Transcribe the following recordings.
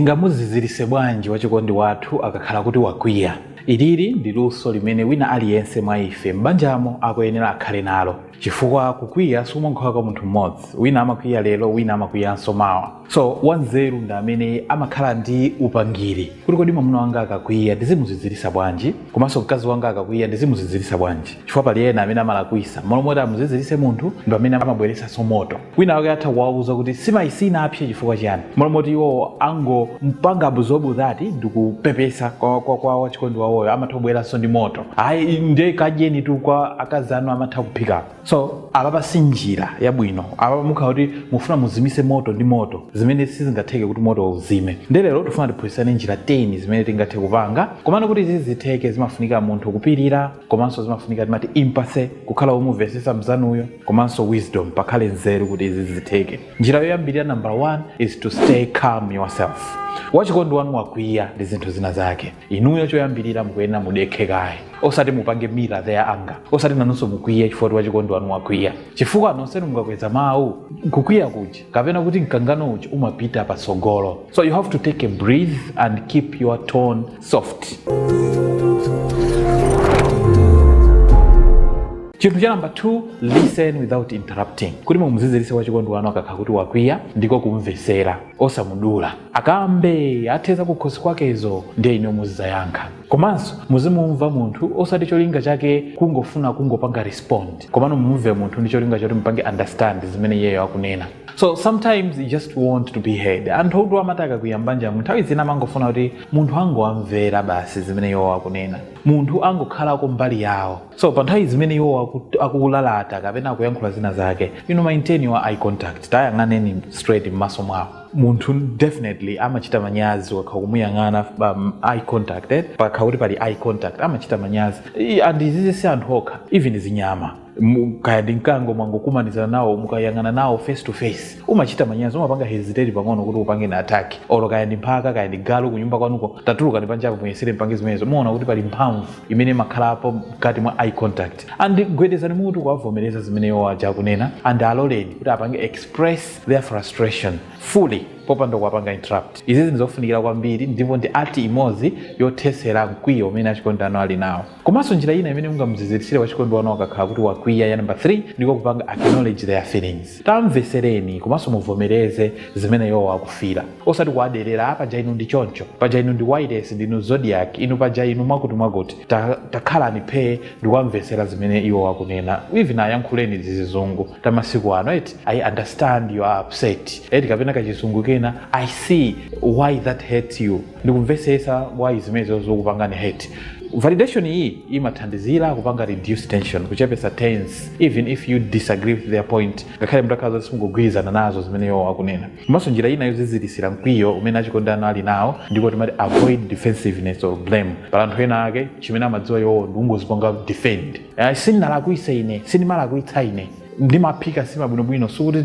Tingamuziziritse bwanji wachikondi wathu akakhala kuti wakwiya? Ilili ndi luso limene wina aliyense mwa ife m'banjamo akuyenera akhale nalo. Chifukwa kukwiya sikumangokhala kwa munthu mmodzi, wina amakwiya lero wina amakwiyanso mawa. So, wanzeru ndi amene amakhala ndi upangiri kuti kodi mwamuna wanga akakwiya ndizimuziziritsa bwanji? Komanso mkazi wanga akakwiya ndizimuziziritsa bwanji? Chifukwa pali ena amene amalakwisa, mmalo moti amuziziritse munthu ndi pamene amabweretsanso moto. wina wake atha kuwauza kuti nsimayi sinapse chifukwa chiyani mmalo moti iwowo angompanga absorb that ndi kupepesa kwa, kwa, kwa wachikondi wawoyo amatha kubweranso ndi moto ayi ndiye kadyenitu kwa akazi anu amatha kuphikapo so apapa si njira yabwino apapa mukhala kuti mufuna muzimise moto ndi moto zimene sizingatheke kuti moto uzime ndiye lero tifuna tiphunzitsane njira 10 zimene tingathe kupanga komano kuti izi zitheke zimafunika munthu kupirira komanso zimafunika timati empathy kukhala womumvesesa mzanuyo komanso wisdom pakhale nzeru kuti izi zitheke njira yoyambirira number one is to stay calm yourself wachikondi wanu wakwiya ndi zinthu zina zake inuyo choyambirira mukuyenera mudekhe kaye osati mupange mirror the anger osati nanunso mukwiye chifukwa wachikondi wanu wakwiya chifukwa nonsenu mukakweza mawu kukwiya kuja kapena kuti mkangano uja umapita patsogolo so you have to take a breath and keep your tone soft chinthu cha namba 2 listen without interrupting kuti mumuzizilise wachikondi wanu akakhala kuti wakwiya ndiko kumvesera osamudula akambe athe za kukhosi kwakezo ndiye inuyo muzizayankha komanso muzimumva munthu osati cholinga chake kungofuna kungopanga respond komano mumumve munthu ndi cholinga choti mupange understand zimene iyeyo akunena so sometimes they just want to be heard anthu ambiri amati akakwiya m'banjamu nthawi zina amangofuna kuti munthu angowamvera basi zimene iwowo akunena munthu angokhalako mbali yawo so pa nthawi zimene iwowo aku- akulalata kapena akuyankhula zina zake inu maintain-ani eye contact ayang'aneni straight m'maso mwawo munthu definitely amachita manyazi ukakhala ukumuyang'ana um, eye contact eh? pakakhala kuti pali eye contact amachita manyazi I- and izizi si anthu okha even zinyama Mu- kaya ndi mkango mwangokumanizana nawo mukayang'anana nawo face to face umachita manyazi umapanga hesitate pang'ono kuti ukupangeni attack olo kaya ndi mphaka kaya ndi galu kunyumba kwanuko tatulukani panjapo muyesere mupange zimenezo muona kuti pali mphamvu imene imakhalapo mkati mwa eye contact and gwedezani mutu kuwavomereza zimene iwo aja akunena and aloleni kuti apange express their frustration fully popanda kuwapanga interrupt izizi ndi zofunikira kwambiri ndipo ndi art imodzi yothesera mkwiyo umene achikondi anu ali nawo Komanso njira ina imene mungamuziziritsire wachikondi wanu akakhala kuti wakwiya, ya namba 3, ndiko kupanga acknowledge their feelings. Tam'mvetsereni komanso muvomereze zimene iwowo akufila. Osati kuwaderera, ah paja inu ndi choncho, paja inu ndi wailesi, ndinu Zodiak, inu paja inu mwakutimwakuti. Ta, takhalani phee ndikuwamvetsera zimene iwowo akunena. Even ayankhuleni tizizungu tamasiku ano eti, I understand you are upset, eti kapena kachizungu kena, I see why that hurt you. ndikumvetsetsa why zimenezo zakupangani hurt validation iyi imathandizira kupanga reduce tension kuchepesa tense even if you disagree with their point ngakhale mutakhala zoti simukugwirizana nazo zimene iwo akunena komanso njira ina yozizirisira mkwiyo umene achikondi anu ali nawo ndiko timati avoid defensiveness or blame pali anthu ena ake chimene amadziwa iwowo ndikungozipanga defend Eh, sindinalakwitse ine sindimalakwitsa ine ndimaphika sima bwinobwino sikuti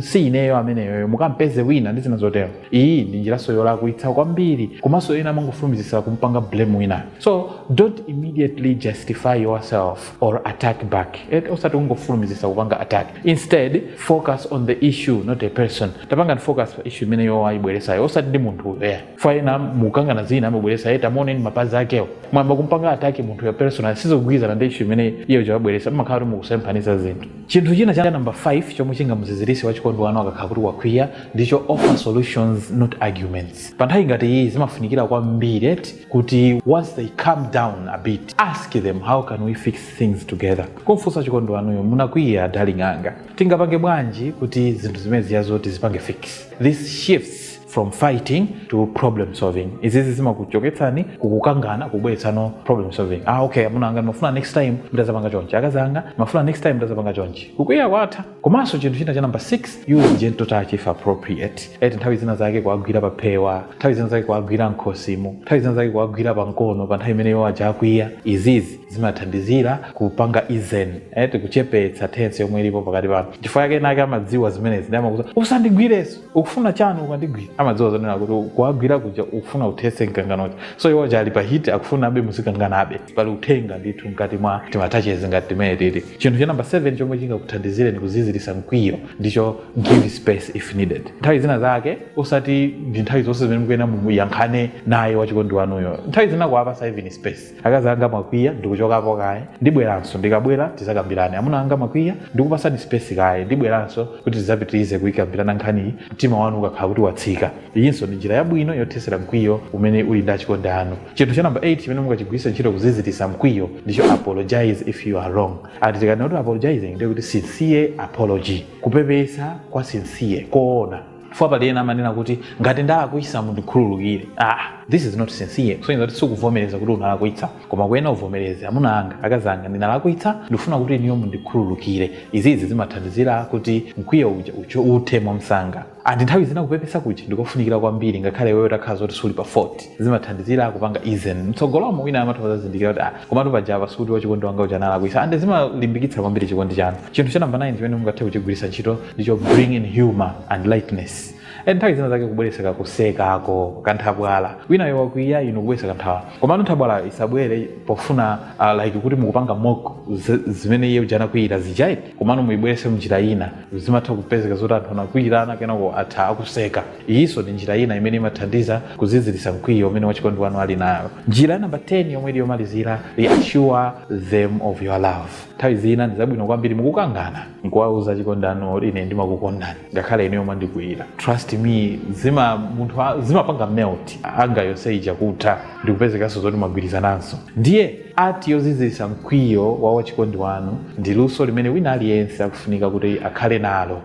si ineyo ameneyoyo mukampeze wina ndi zina zotero iyi ndi njiraso yolakwitsa kwambiri komanso ena amangofulumizitsa kumpanga blame winayo so don't immediately justify yourself or attack back Et- osati kungofulumizitsa kupanga attack instead focus on the issue not a person tapangani focus pa issue imene iwo ayibweresayo osati ndi munthu uyo yeah. ena mukukangana zina amabweresa eh tamuoneni mapazi akewo mwamba kumpanga attack munthu ya personal sizogwirizana ndi issue imene iye chawabweresa mumakhala kuti mukusemphanisa zinthu chinthu china cha namba 5 chomwe chingamuzizirise wachikondi wanu akakhala kuti wakwiya ndicho offer solutions not arguments pa nthawi ngati iyi zimafunikira kwambiri eti kuti once they calm down a bit ask them how can we fix things together kumfunsa wachikondi wanuyo munakwiya darling anga tingapange bwanji kuti zinthu zimene zija zoti tizipange fix this shifts from fighting to problem solving izizi zimakuchotsani kukukangana kubweretsa no problem solving ah okay amuna anga ndimafuna next time ndazapanga chonchi akazi anga ndimafuna next time ndazapanga chonchi kukwiya kwatha komanso chinthu china cha number 6 use gentle touch if appropriate eti nthawi zina zake kuwagwira pa phewa nthawi zina zake kuwagwira mkhosimu nthawi zina zake kuwagwira pa mkono pa nthawi imene iwo aja akwiya izizi zimathandizira kupanga ease eti kuchepetsa tense yomwe ilipo pakati panu chifukwa chake enaake amadziwa zimenezi nde amakuuza usandigwireso ukufuna chani ukandigwira amadziwa zonena kuti kuwagwira kuja ukufuna uthetse mkangano uja so iwo aja ali pa heat akufunabe muzikanganabe pali uthenga ndithu mkati mwa tima touches ngati timeneti ti chinthu cha namba 7 chomwe chingakuthandizireni kuzizirisa mkwiyo ndicho give space if needed nthawi zina zake osati ndi nthawi zonse zimene mukuyena muyankhule naye wachikondi wanuyo nthawi zina kuwapasa even space akazi anga mwakwiya ndikuchokapo kaye ndibweranso ndikabwera tizakambirane amuna anga mwakwiya ndikupasani space kaye ndibweranso kuti tizapitirize kuyikambirana nkhaniyi mtima wanu ukakhala kuti watsika iyinso ndi njira yabwino yothetsera mkwiyo umene uli ndi achikondi anu chinthu cha namba 8 chimene mungachigwiritse ntchito kuzizitisa mkwiyo ndicho apologize if you are wrong eti tikanena kuti apologizing ndiye kuti sincere apology kupepesa kwa sincere koona chifukwa pali ena amanena kuti ngati ndalakwisa mundikhululukire ah, this is not sincere kusonyeza kuti sikuvomereza kuti unalakwitsa koma kuyena uvomereze amuna anga akazi anga ndinalakwitsa ndikufuna kuti ineyo mundikhululukire izizi zimathandizira kuti mkwiyo uja uchoke uthe mwamsanga andi nthawi zina kupepesa kuja ndikofunikira kwambiri ngakhale iweyo utakhala zoti suli pa fault zimathandizira kupanga ease mtsogolomo winayo amatha kuzazindikira kuti ah, Komatu paja apa sikuti wachikondi wanga uja analakwisa and zimalimbikitsa kwambiri chikondi chanu. Chinthu cha number 9 chimene mungathe kuchigwiritsa ntchito ndicho bring in humour and lightness. And nthawi zina zake kubweretsa kakusekako, kanthabwala. Winayo wakwiya inu kubweretsa kanthabwala. Komano nthabwalayo isabwere pofuna uh, like kuti mukupanga mock zi- zimene iye uja anakwiyira zija ayi. Komano muibweretse mnjira ina. Zimatha kupezeka zoti anthu anakwiyirana kenako athera kuseka. Iyinso ndi njira ina imene imathandiza kuziziritsa mkwiyo umene wachikondi wanu ali nawo. Njira ya namba 10, yomwe ili yomalizira, Reassure them of your love. Nthawi zina ndi zabwino kwambiri mukukangana kuwauza achikondi anu kuti, Ine ndimakukondani ngakhale inuyo mwandikwiyira. Trust me, zima munthu a- zimapanga melt anger yonse ija kutha ndi kupezekanso zoti mwagwirizananso. Ndiye art yoziziritsa mkwiyo wa wachikondi wanu ndi luso limene wina aliyense akufunika kuti akhale nalo.